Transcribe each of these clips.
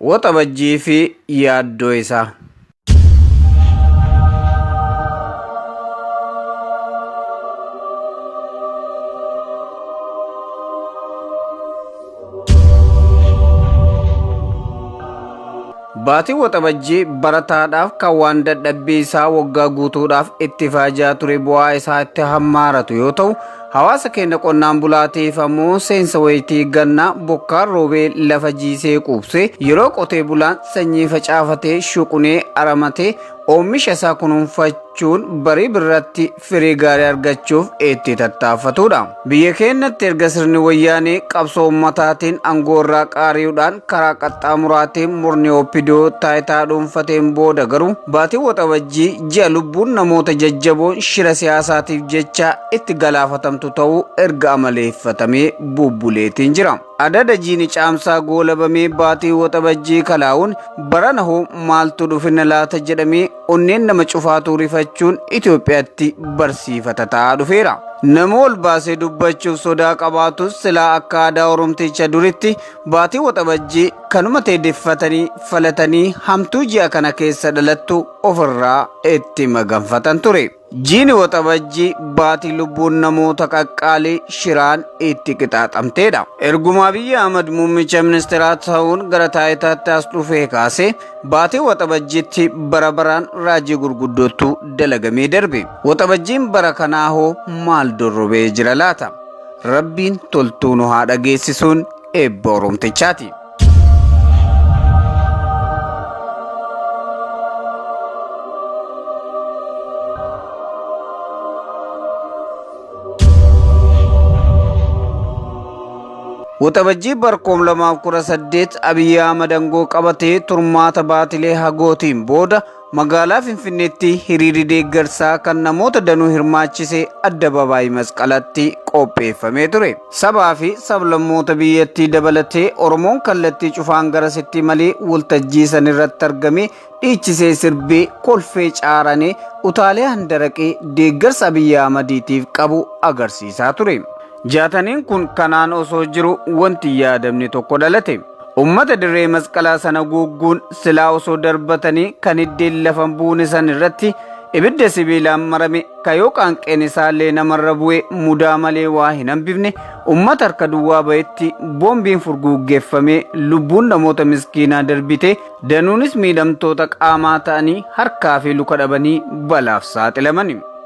Waxabajjii fi yaaddoo isaa. Baatii waxabajjii barataadhaaf kan waan dadhabbii isaa waggaa guutuudhaaf itti faajaa ture bu'aa isaa itti hammaaratu yoo ta'u Hawaasa keenya qonnaan bulaatiif ammoo seensa wayitii gannaa bokkaan roobee lafa jiisee quubsee yeroo qotee bulaan sanyii facaafatee shuqunee aramatee oomisha isaa kunuunfachuun barii birratti firii gaarii argachuuf itti tattaaffatudha. Biyya keenyatti erga sirni wayyaanee qabsoo ummataatiin aangoo irraa qaari'uudhaan karaa qaxxaamuraatiin murni oppidoo taayitaa dhuunfateen booda garuu baatii waxabajjii ji'a lubbuun namoota jajjaboon shira siyaasaatiif jecha itti galaafatamtu ta'uu erga amaleeffatamee bubbuleetiin jira. Adada jiini caamsaa goolabamee baatii waxabajjii kalaa'uun barana hoo maaltu dhufina laata jedhamee onneen nama cufaatuu rifachuun Itoophiyaatti barsiifata ta'aa dhufeera. Nama ol baasee dubbachuuf sodaa qabaatus silaa akka aadaa Oromticha duritti baatii waxabajjii kanuma teedeffatanii falatanii hamtuu ji'a kana keessa dhalattu ofirraa itti maganfatan ture. Jiini Waxabajjii baatii lubbuun namoota qaqqaalii shiraan itti qixaaxamteedha. Erguma Abiyyi Ahmad muummicha ministeeraa ta'uun gara taayitaatti as dhufee kaase baatii Waxabajjiitti bara baraan raajii gurguddootu dalagamee darbe. Waxabajjiin bara kanaa hoo maal dorrobee jira laata? Rabbiin toltuu nu haa dhageessisuun eebba Oromtichaati. Waxabajjii barkoom lamaaf kudha saddeet Abiyyi Ahmad aangoo qabatee turmaata baatilee hagootiin booda Magaalaa Finfinneetti hiriirri deeggarsaa kan namoota danuu hirmaachise addabaabaayii masqalatti qopheeffamee ture. Sabaa fi sablammoota biyyattii dabalatee Oromoon kallattii cufaan garasitti malee waltajjii san irratti argamee dhiichisee sirbee kolfee caaranee utaalee handaraqee deeggarsa Abiyyi Ahmadiitiif qabu agarsiisaa ture. Jaataniin kun kanaan osoo jiru wanti yaadamni tokko dhalate. Ummata dirree masqalaa sana guugguun silaa osoo darbatanii kan hiddeen lafa buune san irratti ibidda sibiilaan marame ka yoo qaanqeen isaallee namarra bu'e mudaa malee waa hin hambifne ummata harka duwwaa ba'etti boombiin furguuggeeffamee lubbuun namoota miskiinaa darbite danuunis miidhamtoota qaamaa ta'anii harkaa fi luka dhabanii balaaf saaxilamani.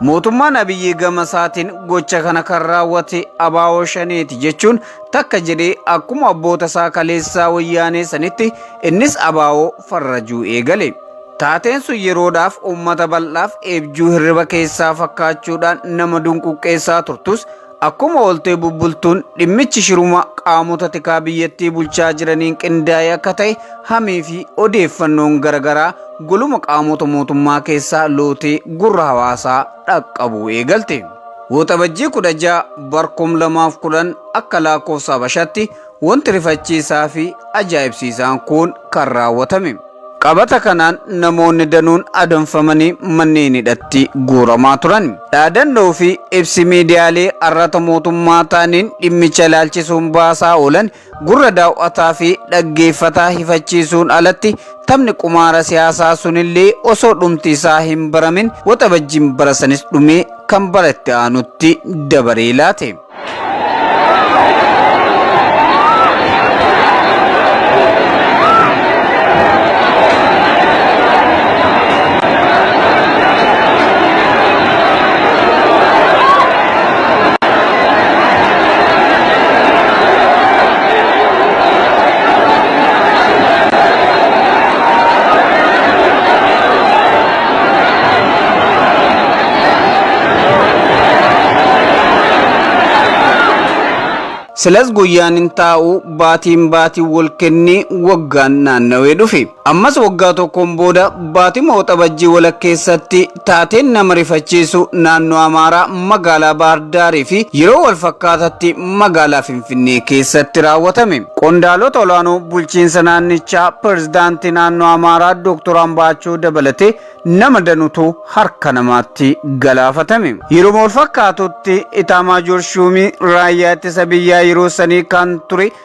Mootummaan Abiyyii gama isaatiin gocha kana kan raawwate abaawoo shaneeti jechuun takka jedhee akkuma abboota isaa kaleessaa wayyaanee sanitti innis abaa'oo farrajuu eegale. Taateen sun yeroodhaaf uummata bal'aaf eebjuu hirriba keessaa fakkaachuudhaan nama dunquqqeessaa turtus akkuma ooltee bubbultuun dhimmichi shiruma qaamota tikaa biyyattii bulchaa jiraniin qindaa'e akka ta'e hamii fi odeeffannoon garagaraa goluma qaamota mootummaa keessaa lootee gurra hawaasaa dhaqqabuu eegalte. Waxabajjii 16 bar 2010 akka lakkoofsa Habashaatti wanti rifachiisaa fi ajaa'ibsiisaan kun kan raawwatame. Qabata kanaan namoonni danuun adamfamanii manneen hidhatti guuramaa turan. Dhaadannoo fi ibsi miidiyaalee arrata mootummaa ta'aniin dhimmicha ilaalchisuun baasaa oolan Gurra daaw'ataa fi dhaggeeffataa hifachiisuun alatti taphni qumaara siyaasaa sunillee osoo dhumti isaa hin baramin waxabajjiin bara sanis dhumee kan bara itti aanutti dabaree laate. Silas guyyaan hin taa'u baatiin baatiin wal kennee waggaan naannawee dhufe. Ammas waggaa tokkoon booda baatima Waxabajjii walakkeessatti taateen nama rifachiisu naannoo Amaaraa magaalaa Baahar Daarii fi yeroo walfakkaatatti magaalaa Finfinnee keessatti raawwatame. Qondaalota olaanoo bulchiinsa naannichaa pirezidaantii naannoo Amaaraa Dooktor Ambaachoo dabalatee nama danutu harka namaatti galaafatame. Yeruma walfakkaatutti Itaamaajoor Shuumii raayyaa ittisa biyyaa yeroo sanii kan ture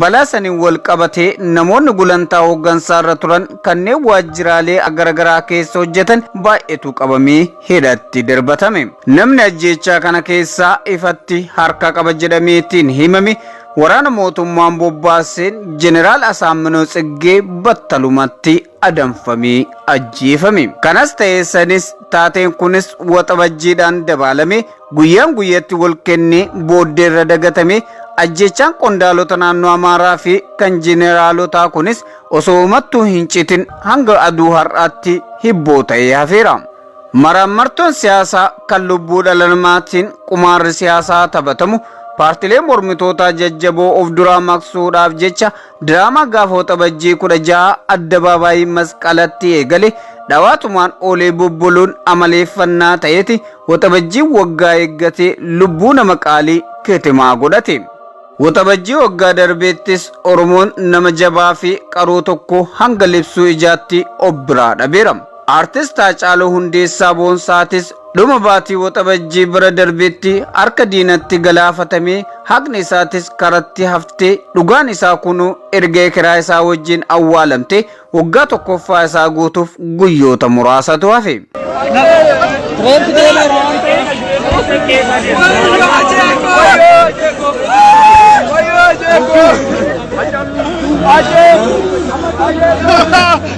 Balaa saniin wal qabatee namoonni gulantaa hooggansaa irra turan kanneen waajjiraalee garagaraa keessa hojjetan baay'eetu qabamee hidhatti darbatame. Namni ajjeechaa kana keessaa ifatti harka qaba jedhameetiin himame waraana mootummaan bobbaaseen Jeneraal Asaamminoo Tsiggee battalumatti adamfamee ajjeefame. Kanas ta'ee sanis taateen kunis waxabajjiidhaan dabaalamee Guyyaan guyyatti wal kennee booddee irra dagatamee ajjechaan qondaalota naannoo Amaaraa fi kan jeneeraalotaa kunis osoo umattuu hin citin hanga aduu har'aatti hibboo ta'ee hafeera. Maraammartoon siyaasaa kan lubbuu dhala namaatiin qumaarri siyaasaa taphatamu paartilee mormitootaa jajjaboo of duraa maqsuudhaaf jecha Diraamaa gaafa waxabajjii 16 addabaabaayii masqalatti eegale dhawaatumaan oolee bubbuluun amaleeffannaa ta'eeti waxabajjiin waggaa eeggatee lubbuu nama qaalii kitimaa godhate. Waxabajjii waggaa darbeettis Oromoon nama jabaa fi qaroo tokko hanga libsuu ijaatti of biraa dhabeera. Artist Haacaaluu Hundeessaa Boonsaatis dhuma baatii Waxabajjii bara darbetti harka diinatti galaafatamee haqni isaatis karatti haftee dhugaan isaa kunuu erga ekeraa isaa wajjin awwaalamtee waggaa tokkoffaa isaa guutuuf guyyoota muraasatu hafe.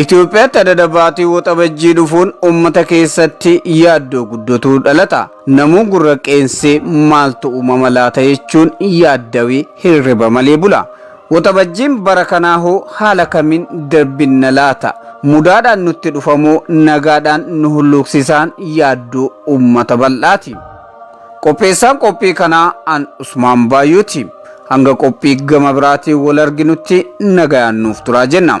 Itoophiyaatti adada baatii waxabajjii dhufuun uummata keessatti yaaddoo guddotu dhalata. Namuu gurra qeensee maaltu uumama laata jechuun yaaddawii hirriba malee bula. Waxabajjiin bara kanaa hoo haala kamiin darbinna laata? Mudaadhaan nutti dhufamoo nagaadhaan nu hulluuqsisaan yaaddoo uummata bal'aati. Qopheessaan qophii kanaa an Usmaan Baayuuti. Hanga qophii gama biraatiin wal arginutti nagayaan nuuf turaa jenna.